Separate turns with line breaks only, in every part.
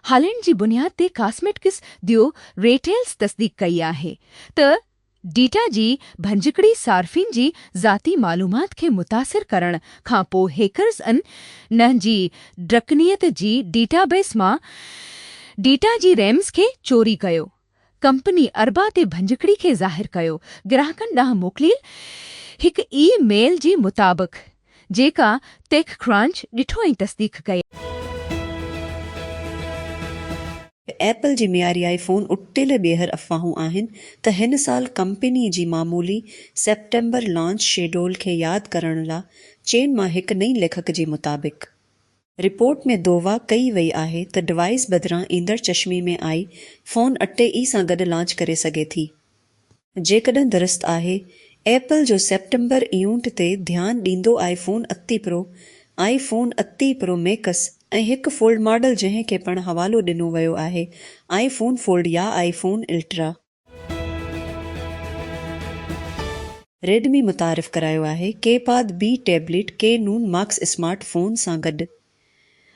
Holland جي بنياد تي ڪاسميٽڪس ديو ريٽيلز تصديق ڪئي آهي ته ڊيٽا جي ڀڃڪڙي صارفين جي ذاتي معلومات کي متاثر ڪرڻ کانپوء هيڪرز ان نهن جي ڊرڪنيت جي ڊيٽابيس مان ڊيٽا جي ريمز کي چوري ڪيو ڪمپني اربع تي ڀڃڪڙي کي ظاهر ڪيو گراهڪن ڏانهن موڪليل هڪ اي ميل جي مطابق جيڪا ٽيڪ ڪرانچ ڏٺو ۽ تصديق ڪئي. ايپل
جي معياري آئي فون اٽڪيل ٻيهر افواهون آهن ته هن سال ڪمپني جي معمولي سيپٽمبر لانچ شيڊول کي ياد ڪرڻ لا چين مان هڪ نئين ليکڪ جي مطابق رپورٽ ۾ دووا ڪئي وئي آهي ته ڊوائيس بدران ايندڙ چشمي ۾ آئي فون اٽي اي سان گڏ لانچ ڪري سگهي ٿي. جيڪڏهن درست آهي، ايپل جو سيپٽمبر ايونٽ تي ڌيان ڏيندو آئي فون اتي پرو، آئي فون اتي پرو ميڪس ۽ هڪ فولڊ ماڊل جنهن کي پڻ حوالو ڏنو ويو آهي آئي فون فولڊ يا آئي فون الٽرا. ريڊمي متعارف ڪرايو آهي ڪي پاد بي ٽيبليٽ ڪي نون ماڪس اسمارٽ فون سان گڏ.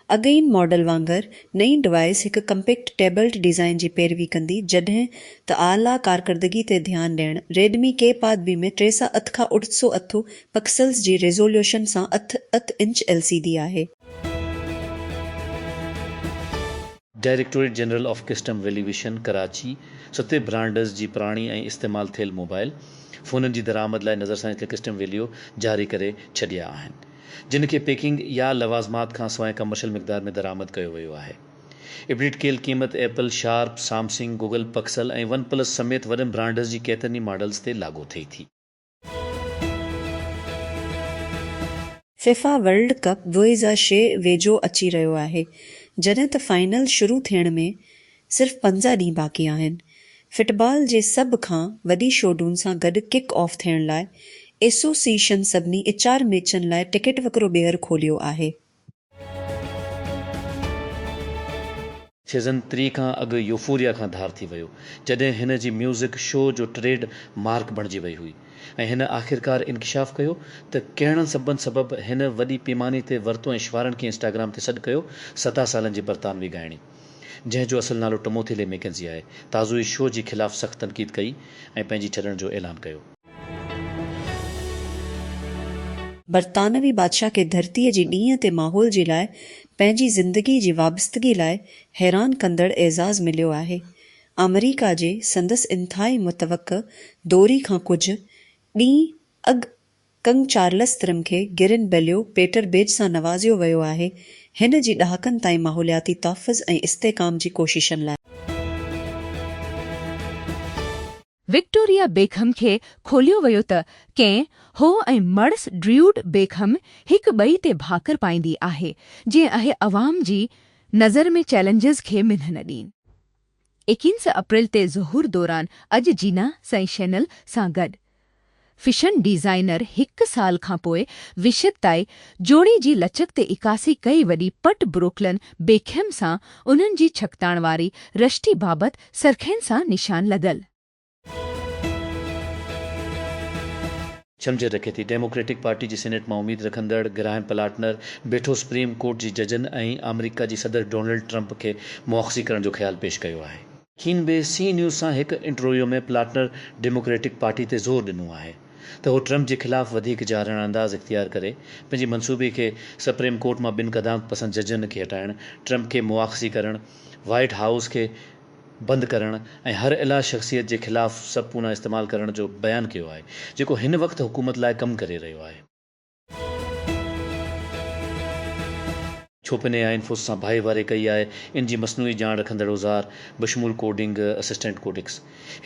اڳئين ماڊل وانگر نئين ڊوائيس هڪ ڪمپيڪٽ ٽيبلٽ ڊيزائن جي پيروي ڪندي جڏهن ته اعليٰ ڪارڪردگي تي ڌيان ڏيڻ ريڊمي ڪي پاد بي ۾ ٽي سئو اٺ کان اٺ سئو اٺ پڪسلز جي ريزوليوشن سان اٺ اٺ انچ ايل سي ڊي آهي.
Directorate general of custom valuation Karachi ستي برانڊز جي پراڻي ۽ استعمال ٿيل موبائل فونن جي درآمد لاء نظرثاني تي ڪسٽم ويليو جاري ڪري ڇڏيا آهن جن کي پيڪنگ يا لوازمات کان سواء ڪمرشل مقدار ۾ درآمد ڪيو ويو آهي اپڊيٽ ڪيل قيمت Apple, Sharp, Samsung, Google Pixel ۽ OnePlus سميت وڏن برانڊز جي ڪيترن ئي ماڊلز تي لاڳو ٿئي ٿي.
فيفا ورلڊ ڪپ دوه هزار ڇهه ويجهو اچي رهيو آهي، جڏهن ته فائنل شروع ٿيڻ ۾ صرف پنجاهه ڏينهن باقي آهن. فٽبال جي سڀ کان وڏي شوڊون سان گڏ ڪڪ آف ٿيڻ لاء ايسوسيئيشن سڀني اچار ميچن لاء ٽڪيٽ وڪرو ٻيهر کوليو آهي.
سيزن ٽي کان اڳ يوفوريا کان ڌار ٿي ويو جڏهن هن جي ميوزڪ شو جو ٽريڊ مارڪ بڻجي وئي هئي ۽ هن آخرڪار انڪشاف ڪيو ته ڪهڙن سببن سبب هن وڏي پيماني تي ورتو ۽ شوارن کي انسٽاگرام تي سڏ ڪيو ستاهه سالن جي برطانوي ڳائڻي جنهن جو اصل نالو ٽموٿي لي ميڪنزي آهي تازو ئي شو جي خلاف سخت تنقيد ڪئي ۽ پنهنجي ڇڏڻ جو اعلان ڪيو.
برطانوي بادشاهه کي ڌرتيء جي ڏينهن تي ماحول جي لاء پنهنجي زندگي جي وابستگي لاء حيران ڪندڙ اعزاز مليو آهي. آمريڪا جي سندس انتهائي متوقع دوري کان ڪجهه ڏينهن اڳ ڪنگ چارلس ترم کي گرين بليو پيٽر بيج سان نوازيو ويو آهي، هن جي ڏهاڪن تائين ماحولياتي تحفظ ۽ استحڪام جي ڪوششن لاء.
وڪٽوريا بيڪهم کي کوليو ويو ته ڪين هو ۽ مڙس ڊريوڊ بيڪهم هڪ ٻئي تي ڀاڪر پائيندي آهي جيئن اهي عوام جي نظر ۾ چئلينجز کي منهن نه ڏين. ايڪينس اپريل تي ظهور دوران اڄ جينا سئي شينل سان گڏ فيشن ڊيزائنر هڪ سال کان پوء وشد تائي جوڙي جي لچڪ تي عڪاسي ڪئي وڏي پٽ بروڪلن بيڪهم سان انهن جي ڇڪتاڻ واري رشتي بابت سرخين سان نشان لڳل.
ڇنڀجي رکي ٿي ڊيموڪريٽڪ پارٽي جي سينيٽ مان اميد رکندڙ گرهائم پلاٽنر بيٺو سپريم ڪورٽ جي ججن ۽ آمريڪا جي صدر ڊونلڊ ٽرمپ کي مواخذي ڪرڻ جو خيال پيش ڪيو آهي. هن بي سي نيوز سان هڪ انٽرويو ۾ پلاٽنر ڊيموڪريٽڪ پارٽي تي زور ڏنو آهي ته هو ٽرمپ جي خلاف وڌيڪ جارحاڻه انداز اختيار ڪري پنهنجي منصوبي کي سپريم ڪورٽ مان ٻن قدامت پسند ججن کي هٽائڻ، ٽرمپ کي مواخذي ڪرڻ، وائيٽ هائوس کي بند ڪرڻ ۽ هر الا شخصيت جي خلاف سب پونا استعمال ڪرڻ جو بيان ڪيو آهي جيڪو هن وقت حڪومت لاء ڪم ڪري رهيو آهي. ڇو پني يا انفوس سان ڀائي واري ڪئي آهي ان جي مصنوعي ڄاڻ رکندڙ اوزار بشمول coding assistant Codex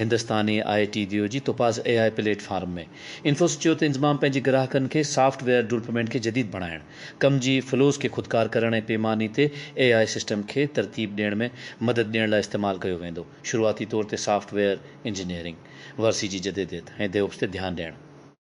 Hindustani I T ديو جي توپاز اي آء پليٽ فارم ۾ انفوس چيو ته انضمام پنهنجي گراهڪن کي سافٽ ويئر ڊولپمينٽ کي جديد بڻائڻ ڪم جي فلوز کي خودڪار ڪرڻ ۽ پيماني تي اي آء سسٽم کي ترتيب ڏيڻ ۾ مدد ڏيڻ لاء استعمال ڪيو ويندو شروعاتي طور تي سافٽ ويئر انجنيئرنگ ورثي جي جديديت ۽ ديوپس تي ڌيان ڏيڻ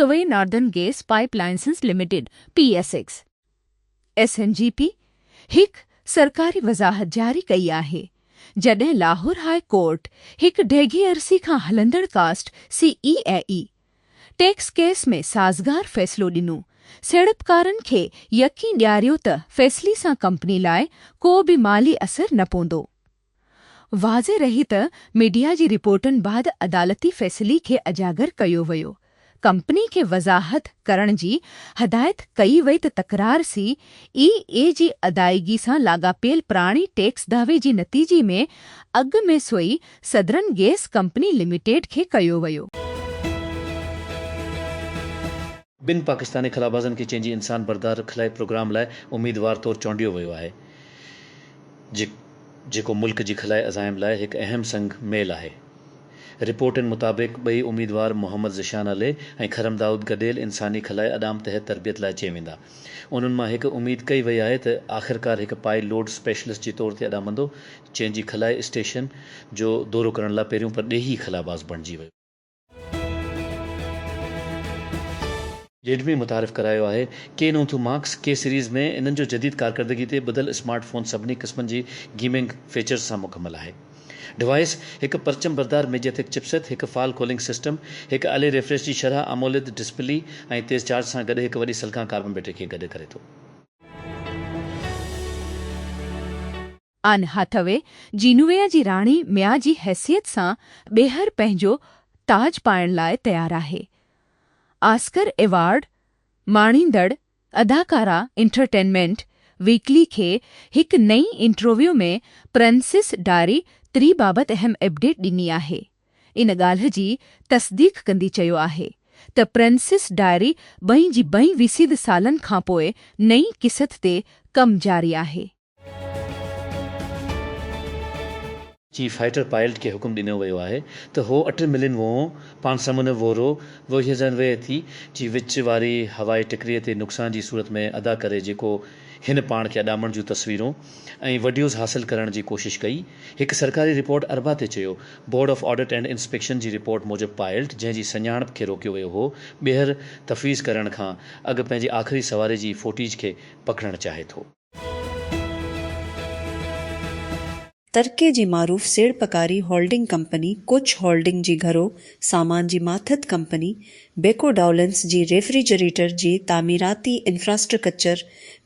Sui Northern Gas Pipelines Limited, P S X, S N G P, هڪ سرڪاري وضاحت جاري ڪئي آهي، جڏهن لاهور هاء ڪورٽ هڪ ڊيگهي عرصي کان هلندڙ cost C A A A tax case ۾ سازگار فيصلو ڏنو، سيڙپڪارن کي يقين ڏياريو ته فيصلي سان ڪمپني لاء ڪو به مالي اثر نه پوندو. واضح رهي ته ميڊيا جي رپورٽن بعد عدالتي فيصلي کي اجاگر ڪيو ويو، ڪمپني کي وضاحت ڪرڻ جي هدايت ڪئي وئي ته تڪرار سي اي اي جي ادائيگي سان لاڳاپيل پراڻي ٽيڪس دعوي جي نتيجي ۾ اڳ ۾ Sui southern gas company limited کي ڪيو ويو.
ٻن پاڪستاني خلابازن کي چين جي انسان بردار خلائي پروگرام لاء اميدوار طور چونڊيو ويو آهي جي جيڪو ملڪ جي خلائي عزائم لاء هڪ اهم سنگ ميل آهي رپورٽن مطابق ٻئي اميدوار محمد ذيشان علي ۽ خرم دائود گڏيل انساني خلائي اڏام تحت تربيت لاء چي ويندا انهن مان هڪ اميد ڪئي وئي آهي ته آخرڪار هڪ پائي لوڊ اسپيشلسٽ جي طور تي اڏامندو چين جي خلائي اسٽيشن جو دورو ڪرڻ لاء پهريون پرڏيهي خلاباز بڻجي ويو. جيڊ ۾ متعارف ڪرايو آهي. ڪي نو ٿو ماڪس ڪي سيريز ۾ انهن جو جديد ڪارڪردگي تي ٻڌل اسمارٽ فون سڀني قسمن جي گيمنگ فيچرز سان مڪمل آهي. ڊوائيس هڪ پرچم بردار ميڊياٿڪ چپ سيٽ، هڪ فال ڪولنگ سسٽم، هڪ الي ريفريش جي شرح اموليد ڊسپلي ۽ تيز چارج سان گڏ هڪ وڏي سلڪان ڪاربن بيٽري کي گڏ ڪري ٿو.
آن هاٿوي جينويا جي راڻي ميا جي حيثيت سان ٻيهر پنهنجو تاج پائڻ لاء تيار آهي. آسڪر ايوارڊ ماڻيندڙ اداڪارا انٽرٽينمينٽ ويڪلي کي هڪ نئين انٽرويو ۾ پرنسيس ڊاري تري بابت اهم اپڊيٽ ڏني آهي. ان ڳالهه جي تصديق ڪندي چيو آهي ته پرنسيس ڊائري ٻئي جي ٻئي ويسيد سالن کانپوء نئين قسط تي ڪم جاري آهي.
چيف فائيٽر پائلٽ کي حڪم ڏنو ويو آهي ته هو اٽن ملين ووهون پان سمنه وورو ووهيزن ويهه ٿي جي وچ واري هوائي ٽڪري تي نقصان جي صورت ۾ ادا ڪري جيڪو هن پاڻ کي اڏامڻ جون تصويرون ۽ وڊيوز حاصل ڪرڻ جي ڪوشش ڪئي هڪ سرڪاري رپورٽ اربع تي چيو board of audit and inspection جي رپورٽ موجب پائلٽ جنهن جي سڃاڻپ کي روڪيو ويو هو ٻيهر تفويض ڪرڻ کان اڳ پنهنجي آخري سواري جي فوٽيج کي پڪڙڻ چاهي ٿو.
ترڪي جي معروف سيڙپڪاري هولڊنگ ڪمپني ڪوچ هولڊنگ جي گهرو سامان جي ماٿت ڪمپني بيڪو ڊائولنس جي ريفريجريٽر جي تعميراتي انفراسٽرڪچر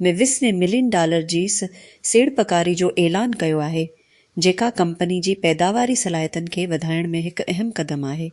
۾ وسوين ملين ڊالر جي سيڙپڪاري جو اعلان ڪيو آهي جيڪا ڪمپني جي پيداواري صلاحيتن کي وڌائڻ ۾ هڪ اهم قدم آهي.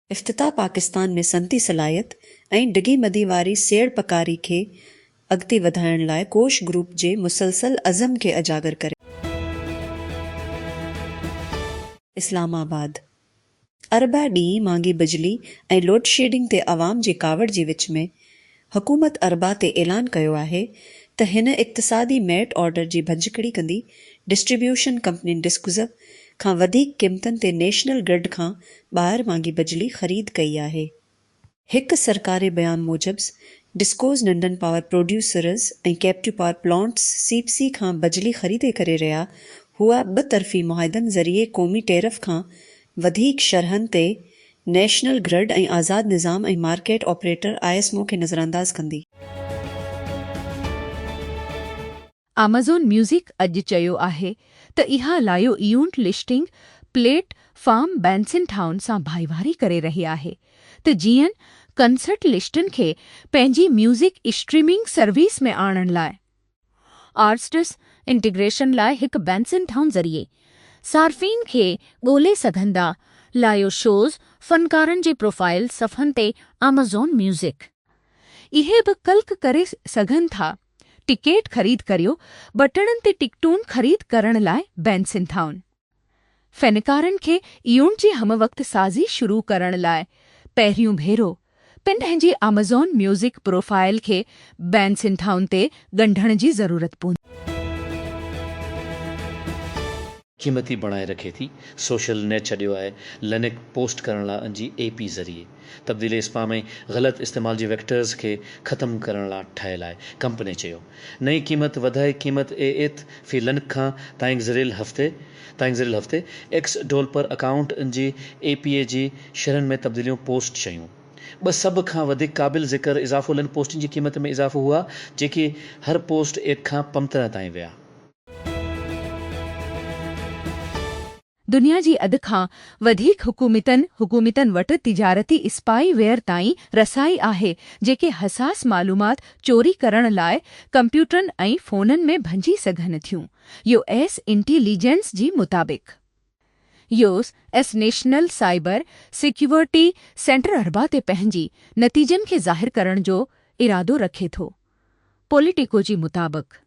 افتتاح پاڪستان ۾ صنعتي صلاحيت ۽ ڊگهي مدي واري سيڙپڪاري کي اڳتي وڌائڻ لاء ڪوش گروپ جي مسلسل عزم کي اجاگر ڪري ٿو. اسلام آباد، اربع ڏينهن مھانگي بجلي ۽ لوڊشيڊنگ تي عوام جي ڪاوڙ جي وچ ۾ حڪومت اربع تي اعلان ڪيو آهي ته هن اقتصادي ميرٽ آرڊر جي ڀڃڪڙي ڪندي ڊسٽريبيوشن ڪمپنين ڊسڪوزب کان وڌيڪ قيمتن تي نيشنل گرڊ کان ٻاهر مانگي بجلي خريد ڪئي آهي. هڪ سرڪاري بيان موجب ڊسڪوز ننڍن power producers ۽ captive power plants C P C کان بجلي خريدي ڪري رهيا هئا ٻه طرفي معاهدن ذريعي قومي ٽيرف کان وڌيڪ شرحن تي نيشنل گرڊ ۽ آزاد نظام ۽ market operator I S MO کي نظرانداز ڪندي.
آمازون ميوزڪ اڄ چيو آهي ته اها live event listing platform Bandsintown سان ڀائيواري ڪري رهي آهي ته جيئن ڪنسرٽ لسٽن کي پنهنجي ميوزڪ اسٽريمنگ سروس ۾ آڻڻ لاء آرٽسٽس انٽيگريشن لاء هڪ بينسن ٺاهن ذريعي صارفين کي ڳولي سگهندا لائيو شوز فنڪارن جي پروفائيل صفحن تي آمازون ميوزڪ. اهي به ڪلڪ ڪري سگهن ٿا ٽڪيٽ خريد ڪريو بٽڻن تي ٽڪٽون خريد ڪرڻ لاء بينسن ٺاهن. فنڪارن کي ايون جي ھم وقت سازي شروع ڪرڻ لاء پهريون ڀيرو پن پنهنجي آمازون ميوزڪ پروفائيل کي بين سنڌائن تي ڳنڍڻ جي ضرورت پوندي.
قيمتي بڻائي رکي ٿي سوشل نيٽ ڇڏيو آهي لنڪ پوسٽ ڪرڻ لاء ان جي اي پي ذريعي. تبديلي اسپام ۽ غلط استعمال جي ويڪٽرز کي ختم ڪرڻ لا ٺهيل آهي، ڪمپني چيو. نئين قيمت وڌائي قيمت اي ايٿ في لنڪ کان تائينگزريل هفتي تائينگزريل هفتي ايڪس ڊولپر اڪائونٽ ان جي اي پي اي جي شرحن ۾ تبديليون پوسٽ شيون ٻه سڀ کان وڌيڪ قابل ذڪر اضافو لنڪ پوسٽن جي قيمت ۾ اضافو هئا جيڪي هر پوسٽ ايڪ کان پمترهه تائين ويا.
دنيا جي اڌ کان وڌيڪ حڪومتن حڪومتن وٽ تجارتي اسپائي ويئر تائين رسائي آهي جيڪي حساس معلومات چوري ڪرڻ لاء ڪمپيوٽرن ۽ فونن ۾ ڀڃي سگهن ٿيون يو ايس انٽي ليجنس جي مطابق U S national cyber security سينٽراربع تي پنهنجي نتيجن کي ظاهر ڪرڻ جو ارادو رکي ٿو پوليٽيڪو جي مطابق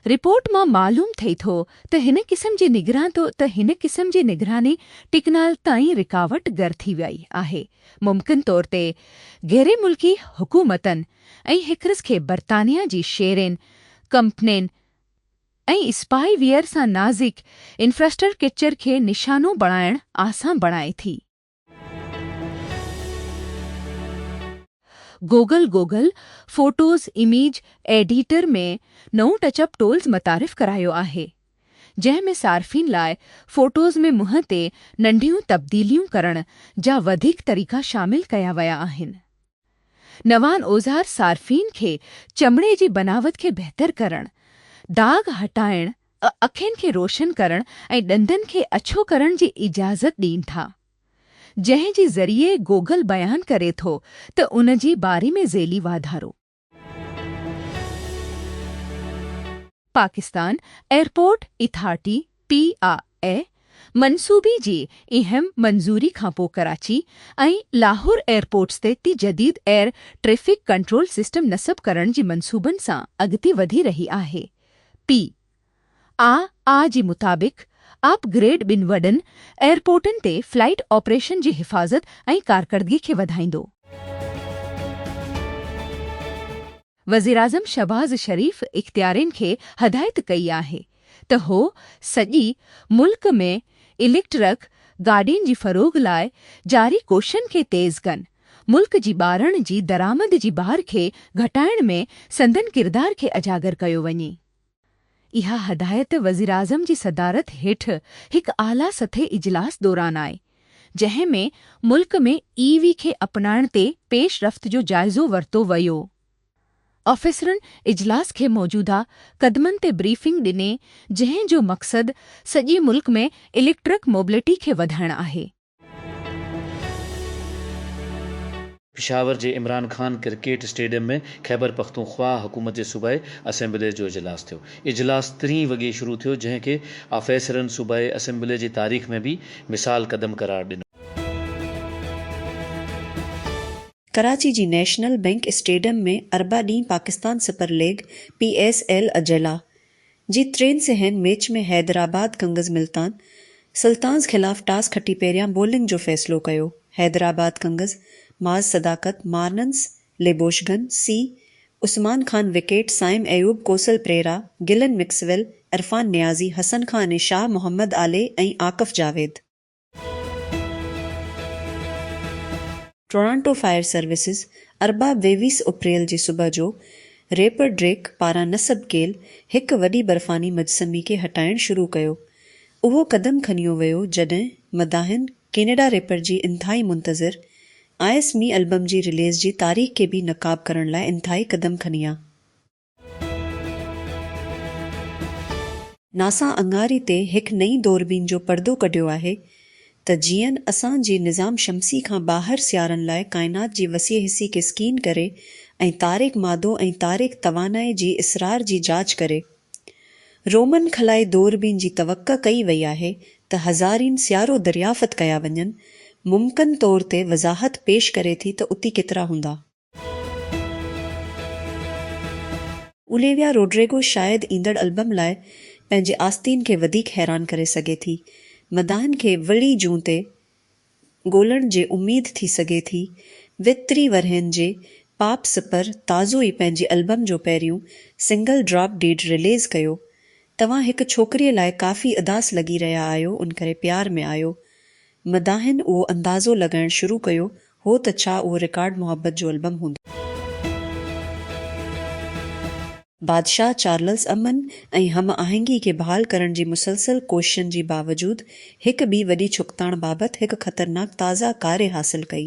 رپورٽ مان معلوم ٿئي ٿو ته هن قسم جي نگران ته هن قسم جي نگراني ٽڪنال تائين رڪاوٽ گر ٿي وئي آهي ممڪن طور تي غيري ملڪي حڪومتن ۽ هڪرس کي برطانيا جي شيرين ڪمپنين ۽ اسپائي ويئر سان نازڪ انفراسٽرڪچر کي نشانو بڻائڻ آسان بڻائي ٿي. Google Google photos image editor ۾ نئون ٽچ اپ ٽولز متعارف ڪرايو آهي، جنهن ۾ صارفين لاء فوٽوز ۾ منهن تي ننڍيون تبديليون ڪرڻ جا وڌيڪ طريقا شامل ڪيا ويا آهن. نوان اوزار صارفين کي چمڙي جي بناوت کي بهتر ڪرڻ، داغ هٽائڻ، اکين کي روشن ڪرڻ ۽ ڏندن کي اڇو ڪرڻ جي اجازت ڏين ٿا. جنهن جي ذريعي گوگل بيان ڪري ٿو ته ان جي باري ۾ ذيلي واڌارو. Pakistan airport authority, P I A, منصوبي جي اهم منظوري کانپوء ڪراچي ۽ لاهور ايئرپورٽس تي جديد ايئر ٽريفڪ ڪنٽرول سسٽم نصب ڪرڻ جي منصوبن سان اڳتي وڌي رهي آهي. پي آء اي جي مطابق اپ گريڊ ٻن وڏن ايئرپورٽن تي فلائيٽ آپريشن جي حفاظت ۽ ڪارڪردگي کي وڌائيندو. وزيراعظم شهباز شريف اختيارين کي هدايت ڪئي آهي ته هو سڄي ملڪ ۾ اليڪٽرڪ گاڏين جي فروغ لاء جاري ڪوششن کي تيز ڪن، ملڪ جي ٻارڻ جي درآمد جي بار کي گهٽائڻ ۾ سندن ڪردار کي اجاگر ڪيو وڃي. اها هدايت وزيراعظم جي صدارت هيٺ هڪ اعليٰ سطحي اجلاس دوران آئي، جنهن ۾ ملڪ ۾ اي وي کي اپنائڻ تي پيش رفت جو جائزو ورتو ويو. آفيسرن اجلاس کي موجوده قدمن تي بريفنگ ڏني، جنهن جو مقصد سڄي ملڪ ۾ اليڪٽرڪ موبلٽي کي وڌائڻ آهي.
پشاور جي عمران خان ڪرڪيٽ اسٽيڊيم ۾ خيبرپختونخواهه حڪومت جي صوبائي اسيمبلي جو اجلاس ٿيو. اجلاس ترين وڳي شروع ٿيو جنهن کي آفيسرن صوبائي اسيمبلي جي تاريخ ۾ بي مثال قدم قرار ڏنو.
ڪراچي جي نيشنل بئنڪ اسٽيڊيم ۾ اربع ڏينهن Pakistan super league, P S L, اجلاء جي ٽرين سهن ميچ ۾ حيدرآباد ڪنگز ملتان سلطانز خلاف ٽاس کٽي پهريان بولنگ جو فيصلو ڪيو حيدرآباد ڪنگز معاذ صداقت مارنس ليبوشگن سي عثمان خان وڪيٽ سائم ايوب ڪوسل پريرا گلن مڪسويل عرفان نيازي حسن خان ۽ شاهه محمد آلي ۽ Akif Javed Toronto fire services ارباب ويويس اپريل جي صبح جو ريپر ڊريڪ پاران نصب ڪيل هڪ وڏي برفاني مجسمي کي هٽائڻ شروع ڪيو. اهو قدم کنيو ويو جڏهن مداحن ڪينيڊا ريپر جي انتهائي منتظر آئس مي البم جي رليز جي تاريخ کي به نقاب ڪرڻ لاء انتهائي قدم کنيا. ناسا اڱاري تي هڪ نئين دوربين جو پردو ڪڍيو آهي ته جيئن اسان جي نظام شمسي کان ٻاهر سيارن لاء ڪائنات جي وسيع حصي کي اسڪين ڪري ۽ تاريڪ مادو ۽ تاريڪ توانائي جي اسرار جي جاچ ڪري. رومن خلائي دوربين جي توقع ڪئي وئي آهي ته هزارين سيارو دريافت ڪيا وڃن، ممڪن طور تي وضاحت پيش ڪري ٿي ته اتي ڪيترا هوندا. اوليويا روڊريگو شايد ايندڙ البم لاء پنهنجي آستين کي وڌيڪ حيران ڪري سگهي ٿي. مداحن کي وڙي جون تي ڳولڻ جي اميد ٿي سگهي ٿي. ويهه ٽيهه ورهين جي پاپ سپر تازو ئي پنهنجي البم جو پهريون سنگل ڊراپ ڊيڊ رليز ڪيو. توهان هڪ ڇوڪريء لاء ڪافي اداس لڳي رهيا آهيو ان ڪري پيار ۾ آيو. مداحن اهو اندازو لڳائڻ شروع ڪيو هو ته ڇا اهو رڪارڊ محبت جو البم هوندو. بادشاهه چارلس امن ۽ هم آهنگي کي بحال ڪرڻ جي مسلسل ڪوششن جي باوجود هڪ ٻي وڏي ڇڪتاڻ بابت هڪ خطرناڪ تازه ڪاري حاصل ڪئي